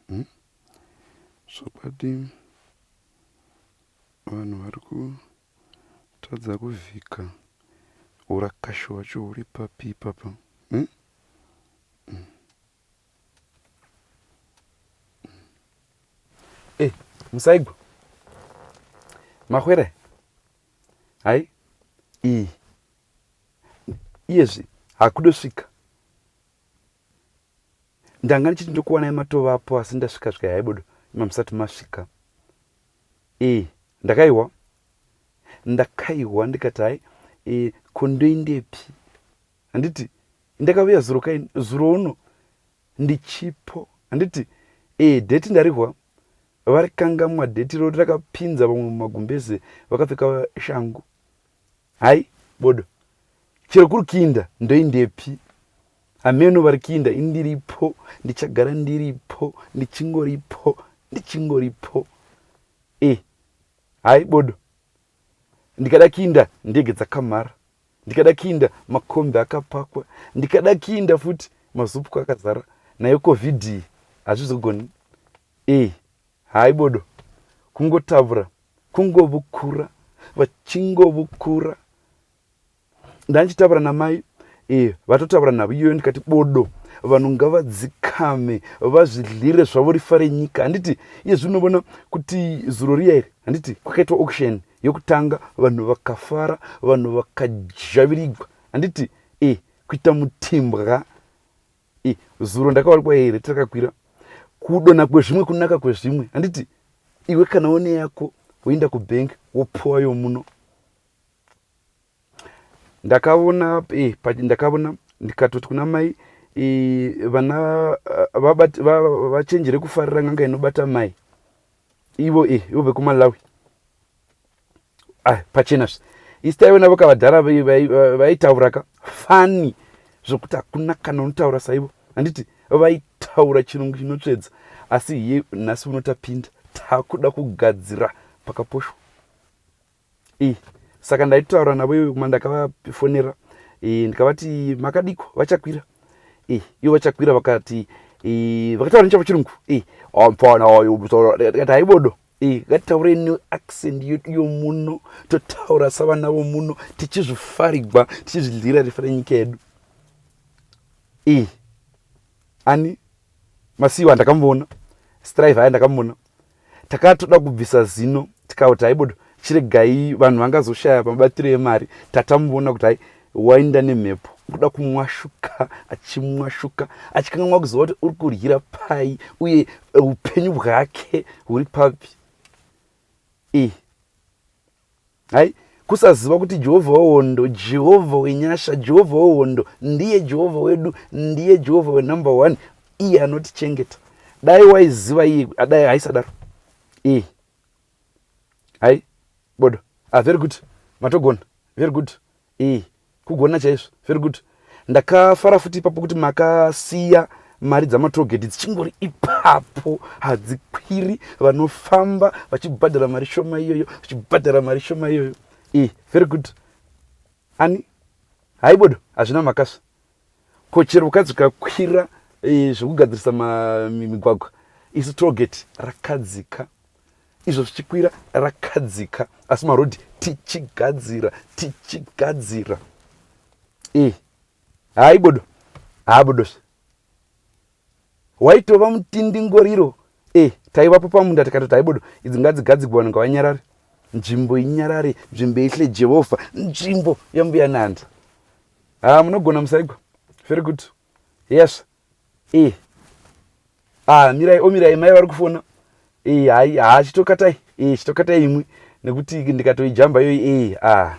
Hmm? zvokwadi vanhu vari kutadza kuvhika urakashi hwacho huri papi ipapa hmm? hmm. eh, musaigwa mahwere Hai iyi iyezvi hakudosvika ndanga ndichiti ndokuwanai matovapo asi ndasvika svika yaibodo ima musati masvika ee ndakaihwa ndakaihwa ndikati hai e, kondoindepi handiti ndakavuya zuro kaini zuro uno Ndichipo handiti ee date ndarihwa varikangamwa date irori rakapinza vamwe mumagumbeze vakapfeka shangu hai bodo chero kuri kiinda ndoindepi hameno vari kiinda indiripo ndichagara ndiripo ndichingoripo ndichingoripo e eh, hai bodo ndikada kiinda ndege dzakamhara ndikada kiinda makombi akapakwa ndikada kiinda futi mazupku akazara nayo covid iyi hazvizogoni e hai bodo kungotavura kungovukura vachingovukura ndandichitaura namai e, vatotaura navo iyoyo ndikati bodo vanhu ngavadzikame vazvidlire zvavo rifa renyika handiti iye zvinovona kuti zuro riya iri handiti kwakaitwa auction yokutanga vanhu vakafara vanhu vakazhavirigwa handiti e kuita mutimbwa e zuro ndakawalikwa here takakwira kudona kwezvimwe kunaka kwezvimwe handiti iwe kana one yako woenda kubank wopuwa yomuno ndakavona eh, ndakavona ndikatoti kuna mai eh, vana eh, vachenjere kufarira n'anga inobata mai ivo eh, ivo vekumalawi ah, pachena zve istai vona vakavadhara vaitauraka fani zvokuti hakuna kana unotaura saivo handiti vaitaura chirungu chinotsvedza asi iye nhasi unotapinda takuda kugadzira pakaposhwa iyi saka ndaitotaura navo ivo kuma ndakavafonera eh, ndikavati makadiko vachakwira eh, ivo vachakwira vakati eh, vakataura nechavo chirungu mfana tikati haibodo ngatitaure new accent yedu yomuno totaura savana vomuno tichizvifarigwa tichizvidlira rifira nyika yedu Ani? Masiyiwa ndakamuona. Strive aya ndakamuona. Takatoda kubvisa zino tikauti haibodo chiregai vanhu vangazoshaya mabatiro emari tatamuona kuti hai wainda nemhepo kuda kumwashuka achimwashuka achikanganwa kuzova kuti uri kuryira pai uye e, upenyu bwake huri papi e. Hai, kusaziva kuti Jehovha wehondo, Jehovha wenyasha, Jehovha wehondo ndiye Jehovha wedu, ndiye Jehovha wenumber one, iye anotichengeta. Dai waiziva iye, dai haisadaro iyi. Hai, bodo. Ah, very good. Matogona. Very good. Eeh kugona chaizvo very good. Ndakafara futi ipapo kuti makasiya mari dzamatollgate dzichingori ipapo hadzikwiri vanofamba vachibhadhara mari shoma iyoyo vachibhadhara mari shoma iyoyo e very good ani haibodo hazvina makasva Ko chero ukadzikakwira eh, zvekugadzirisa migwagwa isi togeti rakadzika izvo zvichikwira rakadzika asi marodhi tichigadzira tichigadzira e eh, haibodo haabodozve Waitova mutindingoriro e taivapo pamunda tikatoti haibodo idzi ngadzigadzigwe vanhu ngavanyarare nzvimbo inyarare nzvimbo ihle jehovha nzvimbo yambuya nanda ha munogona musaigwa very good yes e ah mirai omirai mai vari kufona e hai ha chitokatai e chitokatai imwe nekuti ndikatoijamba yoyi e ah